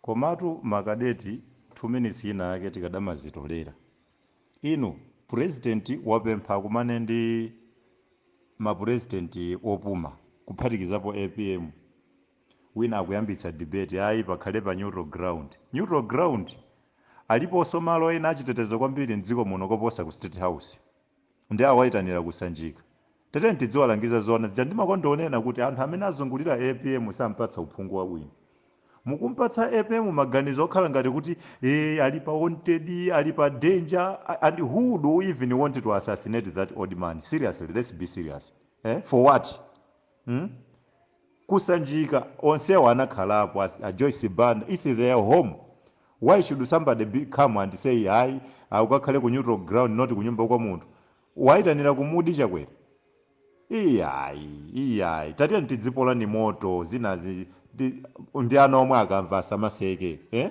Komatu ma cadet 2 minutes inayake tikadamazitolera. Inu president wapempha akumane ndi ma president opuma kuphatikizapo apm. Wina akuyambitsa debate ayi pakhale pa neutral ground. Neutral ground? Aliponso malo ena achitetezo kwambiri m'dziko muno koposa ku state house? nde awaitanira ku Sanjika. Tatiyeni tidziwalangiza zoona zija ndimakonda unena kuti anthu amene azungulira apm sampatsa uphungu wabwino. Mukumpatsa apm maganizo okhala ngati kuti ee ali pa wanted, ali pa danger and who would even want to assassinate that old man? Seriously, let's be serious. Eh? For what? mm? ku Sanjika onsewa anakhalapo as- a joyce banda its their home why should somebody come and say hayi akukakhale ku neutral ground not kunyumba kwa munthu wayitanira kumudzi chakwera iyayi iyayi tatiyeni tidzipolani moto zinazi ndi- ndi ana omwe akamva asamaseke eh?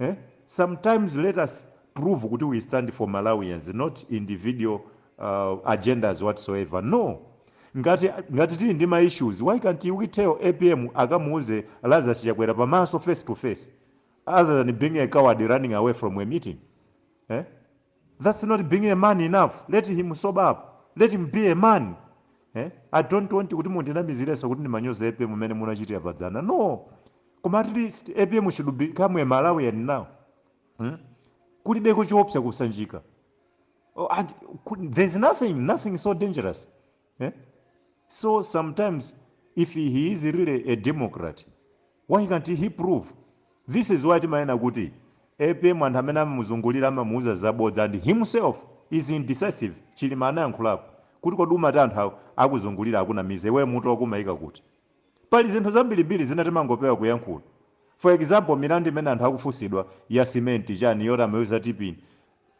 eh? sometimes let us prove kuti we stand for malawians not individual uh, agendas whatsoever no ngati ngati tili ndi ma issues why can't we tell apm akamuuze lazarus chakwera pamaso face to face other than being a coward running away from a meeting eh? Thats not being a man enough let him sober up let him be a man eh? I don't want kuti mundinamizirenso kuti ndimanyoza apm mmene munachitira padzana no koma at least apm should become a Malawian now hmm? kulibeko choopsa kusanjika oh, and, there's nothing nothing so dangerous eh? so sometimes if he is really a democrat why can't he prove this is why timanena kuti apm anthu amene amamuzungulira amamuuza zabodza and himself is indecisive chilima anayankhulapo kuti kodi ukamati anthu awo akuzungulira akunamiza iwe mutu wako umayika kuti pali zinthu zambirimbiri zina timangopewa kuyankhula for example milandu imene anthu akufunsidwa ya simenti chani yoti amaiuza tipini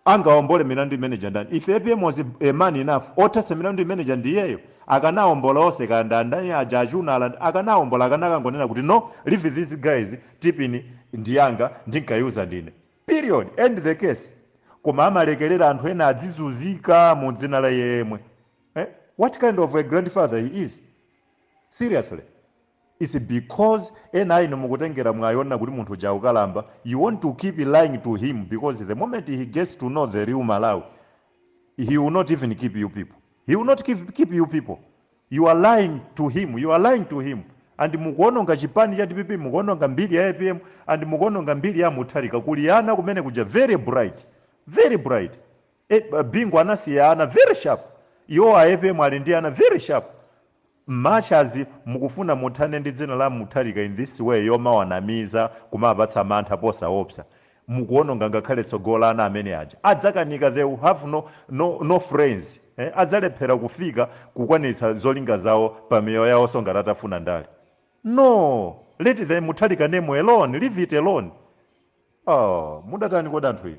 Angaombole milandu imeneija ndani? If apm was a man enough, othetsa milandu imeneija ndi iyeyo. Akanaombola onse kaya ndi andani aja achunala akanaombola akanakangonena kuti no leave these guys tipini ndi yanga ndinkaiuza ndine. Period. End the case. Koma amalekelera anthu ena adzizuzika mu dzina la iye yemwe. Eh? What kind of a grandfather he is? Seriously. Its bcoz ena ainu mukutengera mwayi onena kuti munthu uja akukalamba, you want to keep lying to him bcoz the moment he gets to know the real Malawi he will not even keep you people, he will not keep keep you people, you are lying to him, you are lying to him and mukuononga chipani cha dpp, mukuononga mbiri ya apm and mukuononga mbiri ya a Mutharika, kuli ana kumene kuja very bright, very bright a Bingu anasiya ana very sharp, iwowa a apm ali ndi ana very sharp. Much as mukufuna muthane ndi dzina la Mutharika in this way yomawanamiza kumawapatsa mantha posaopsa mukuononga ngakhale tsogolo la ana amene aja adzakanika they will have no no no friends eh adzalephera kufika kukwanilitsa zolinga zawo pa miyoyo yawonso ngati atafuna ndale no let the Mutharika name alone leave it alone oh mudatani kodi anthu inu.